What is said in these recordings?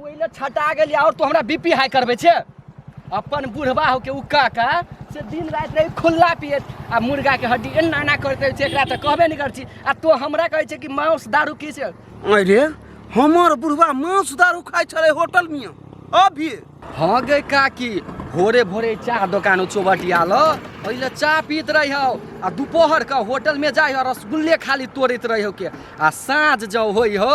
ओहि लए छटा गेली आओर तू हमरा बीपी हाई करबे छे अपन बुढ़बा हो के उका का से दिन रात रही खुल्ला पियत आ मुर्गा के हड्डी एना एना करते रहै छै एकरा तऽ कहबे नहि कर छी आ तो हमरा कहै छै कि मांस दारू की से अरे हमर बुढ़वा मांस दारू खाइ छलै होटल में अभी हाँ गे काकी भोरे भोरे चाह दोकान चौबटिया ल पहिले चाह पीत रही हो आ दुपहर के होटल में जाइ हो रसगुल्ले खाली तोड़ैत रही हो के आ साँझ जब होइ हो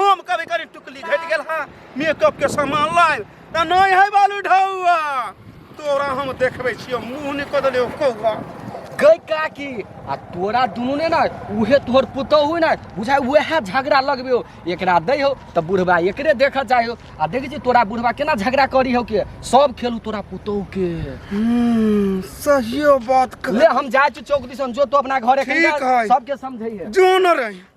हम कभी कभी टुकली घटि गेल हँ मेकअप के सामान लाइन तऽ नहि है बालू ढौआ तोरा हम देखबै छियौ मुँह नहि कऽ देलियौ कौआ गई काकी आ तोरा दुनू ने ना उहे तोहर पुतोहू ने बुझाय उएह झगड़ा लगबे हो एकरा दै हो तऽ बुढ़वा एकरे देख जाइ हो आ देखै छी तोरा बुढ़वा केना झगड़ा करी हो के सब खेलू तोरा पुतोहू के हम्म, सहियो बात ले कह हम जाइ छी चौक दिसन जो तो अपना घरे ठीक है। सबके समझैहे जो न रही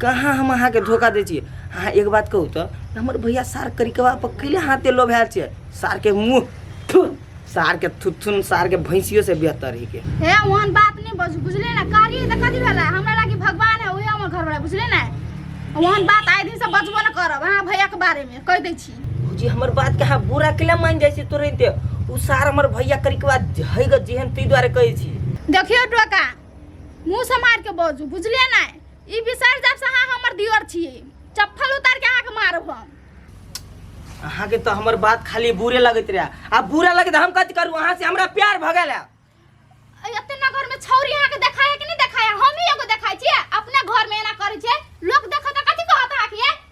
कहाँ हम अहाँके धोखा दै छियै अहाँ एक बात कहू तऽ हमर भैया सार करिकवा पर कैले हाथे लोभायल छियै सार के मुंह थु सार के थुथुन सार के भैंसियो से बेहतर ही के हे ओहन बात नहीं बस बुझले ना कार्य त कथी भेला हमरा लागी भगवान है ओहे हमर घर वाला बुझले ना ओहन बात आए दिन से बचबो ना करब अहाँ भैया के बारे में कह दै छी जी हमर बात कहाँ बुरा केला मान जाइ छै तुरंते उ सार हमर भैया करिकवा है ग जेहन तै दुआरे कहै छी देखियो डोका मुंह से मार के बजू बुझले ना ई बिसरि जायब से अहाँ हमर दियर छी चप्पल उतार के अहाँके मारब हम अहाँ के तो हमर बात खाली बुरे लगत रहे आ बुरा लगे तो हम कथी करू अहाँ से हमरा प्यार भ गेल है। अय, एते ना घर में छौरी अहाँके देखाया कि नहीं देखाया हम ही एगो देखाय छियै अपना घर में एना करै छियै लोक देखत तऽ कथी कहत अहाँके ये?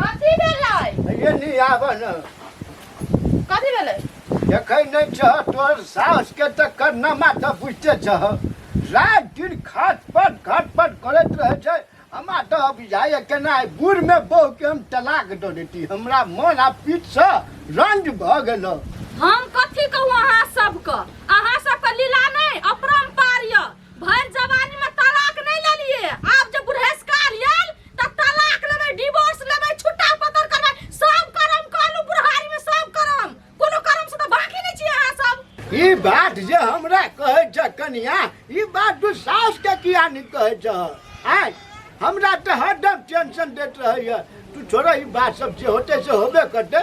कथी भेलै ये नहीं आबऽ न कथी भेलै देखै नहि छह तोर साउस के तऽ करनामा तऽ बुझते छह रात दिन खाट पट खाट पट करैत रहै छै हमरा तऽ अब जाइए केना आइ बूढ़ मे बहू के हम तलाक दऽ देती हमरा मन आ पीठ से रंज भऽ गेल हम कथी कहू अहाँ सबके अहाँ सबके लीला नहि अपरम्पार यऽ भरि जवानी में तलाक नहि लेलियै आब जे बुढ़ेसकार यल त तलाक लेबै डिवोर्स लेबै छुट्टा पतर करबै सब करम कहलु बुढ़ारी में सब करम कोनो करम से त बाकी नै छी अहाँ सब ई बात जे हमरा कहै छ कनिया ई बात तू सास के किया नहि कहै छ आय हमरा तऽ हरदम टेंशन दैत रहैया तू छोड़ो ई बात सब जे होते से होबे करते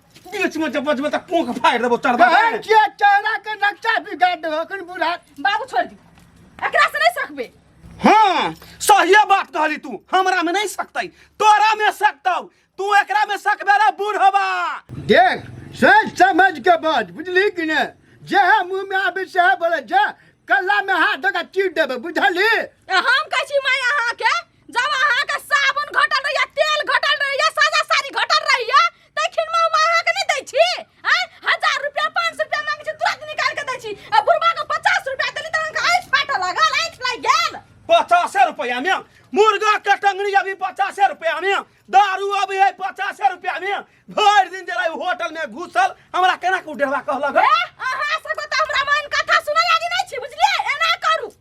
बीच में जब बजबे त कोंख फाड़ देबो चढ़बा बहन के चेहरा के नक्शा बिगाड़ दे अखन बुढ़ा बाबू छोड़ दी एकरा से नहीं सकबे हां सही बात कहली तू हमरा में नहीं सकतै तोरा में सकतौ तू एकरा में सकबे रे बूढ़ होबा देख सोच समझ के बात बुझली कि ने जे है मुंह में आबे से है बोले जा कल्ला में हाथ धोका चीर देबे बुझली ए, हम कहै छी माय अहाँ के जब अहाँ के साबुन घटल रहैया तेल घटल रहैया साजा साड़ी घटल रहैया तखन में हम अहाँ के नहीं दै छी हैं हजार रुपया पाँच सौ रुपया मांगे छी तुरंत निकाल के दै छी आ बुढ़वा के पचास रुपया देली तो अहाँके आँखि फाटऽ लागल आँखि लागि गेल पचासे रुपया में मुर्गा के टंगड़ी अभी पचासे रुपया में दारू अभी है पचासे रुपया में भर दिन जरा होटल में घुसल हमरा केना के डेढ़वा कहलक ए, अहाँ सबके तऽ हमरा मन कथा सुनै आदि नहि छी बुझलियै एना करू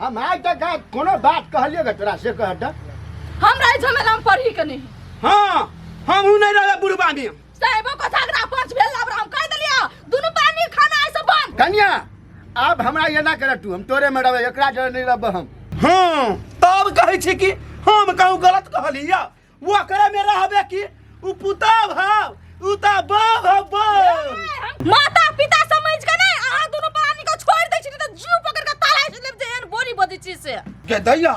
हम आज तक आज कोनो बात कहलिए गे तोरा से कह द हम रहे झमेला में पढ़ी के नहीं हां हम हूं नहीं रहे बुढ़वा में साहेबो को झगड़ा पंच भेल अब हम कह देलिया दुनु पानी खाना ऐसे बन कन्या अब हमरा ये ना कर तू हम तोरे में रहबे एकरा जरे नहीं रहबे हम हां तब कहै छी कि हम कहूं गलत कहलिया ओकरे में रहबे की उ पुताव हव उ त बाव हव बाव माता पिता समझ के नहीं अहाँ दोनों परानी को छोड़ दै छी नहीं तो जीव पकड़ के ताला से लेब जे एहन बोली बजै छी से गे दैया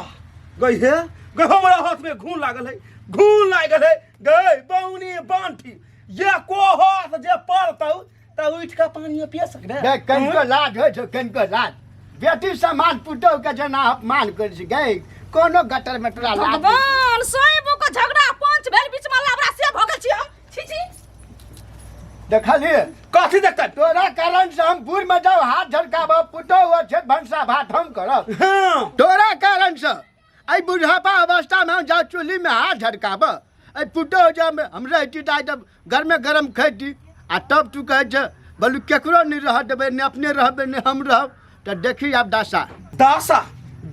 गई हे गे हमरा हाथ में घून लागल है घून लागल है गई बौनी बांठी ये को हाथ जे पड़तौ तऽ उठि कऽ पानियो पिय सकबे गै कनिको लाज होइ छौ कनिको लाज बेटी समान पुतहु के जेना अपमान करै छै गै कोनो गटर मे तोरा लाज नहि। भगवान सोइबो को झगड़ा पंच भेल बीच में लबड़ा से भगल छी हम छी छी देखलिए कथी देखतै तोरा कारण से हम बूढ़ में जाऊ हाथ झलकाबो पुतहु हो छै भंसा भात हम करब हँ तोरा कारण से एहि बुढ़ापा अवस्थामे हम जा चूल्हिमे हाथ झटकाबऽ एहि पुतहु जे हम- हम रहिती तऽ आइ तऽ गरमे गरम खैती आ तब तू कहै छै बोलू केकरो नहि रह देबै नहि अपने रहबै नहि हम रहब तऽ देखी आब दासा दासा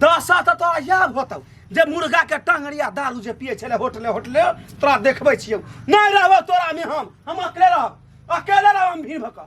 दासा तऽ तोरा इएह होतौ जे मुर्गा के टंगड़िया दारू जे पिए छले होटले होटले तोरा देखबै छियौ नहि रहबौ तोरा में हम हम अकेले रहब अकेले रहब हम भीड़ भकऽ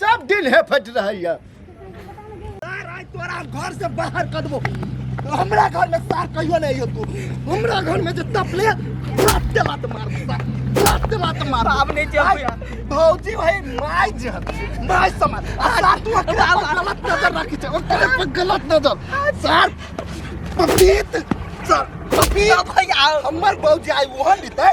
सब दिन हे फट रहैया सार आइ तोरा घर से बाहर कर देबो हमरा घर में सार कहियो नहीं अइयो तू हमरा घर में जे तपले लात दे लात मार सार लात दे लात मार बाप ने जे होइया। आइ, भौजी भाई माय जे माय समान आ सार तू ओकरे पर गलत नजर राखी छै ओकरे पर गलत नजर सार पपीत सार पपीत भैया हमर भौजी आइ ओहन लितै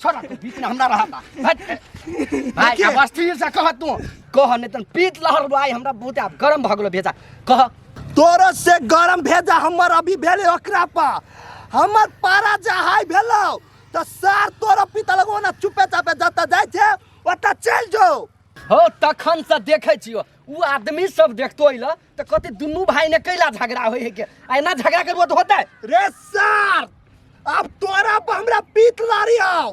छोड़ा तू बीच में हमरा रहा था भाई अब अस्थिर से कह तू कह नहीं तन पीत लहर भाई हमरा बहुत आप गरम भगलो भेजा कह तोर से गरम भेजा हमर अभी भेले ओकरा पा हमर पारा जा हाई भेलो त सार तोर पिता लगो ना चुपे चापे जता जाय छे ओता चल जो हो तखन से देखे छियो उ आदमी सब देखतो इला तऽ कहते दुनू भाई ने कैला झगड़ा होय है के आ एना झगड़ा करबो तऽ होतै रे सर अब तोरा पर हमरा पीत लारी आओ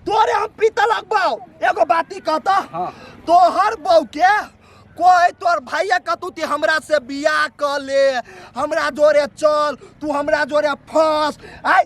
तोरे हम पीत लगबाओ एगो बाती कहता हाँ। तोहर बहू के कोई तोर भैया कतू ती हमरा से बियाह कर ले हमरा जोरे चल तू हमरा जोरे फंस आय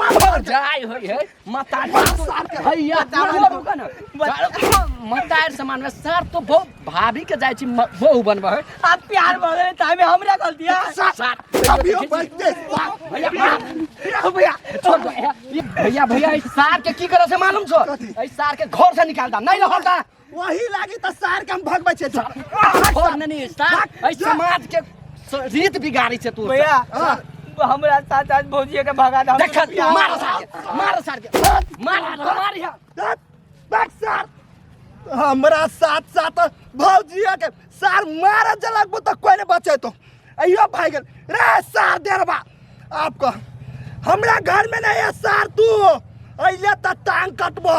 मर जाय होय है मतार सार के हैया मर रुका ना मतार समान में सार तो बहुत भाभी के जाय छी म- बहू बनबा है आ प्यार भऽ गेलै ताहिमे हमरा गलती है सार अभी हम बैठते भैया भैया भैया छोड़ दो, भैया भैया भैया इस सार के की करे से मालूम छो कथी? इस सार के घर से निकाल दा नहीं लहर दा वही लागी त सार के हम भगबै छै जा छोड़ ने नी सार एहि समाज के स- रीत बिगाड़ी छै तू भैया हमरा साथ आज भौजिया के भगा दे देख मार सार के मार सार के मार मार या बैक सार हमरा साथ साथ भौजिया के सार मार जलक तो कोई नहीं बचे तो अयो भाई गल रे सार देरबा आपको हमरा घर में नहीं है सार तू अइले त टांग कटबो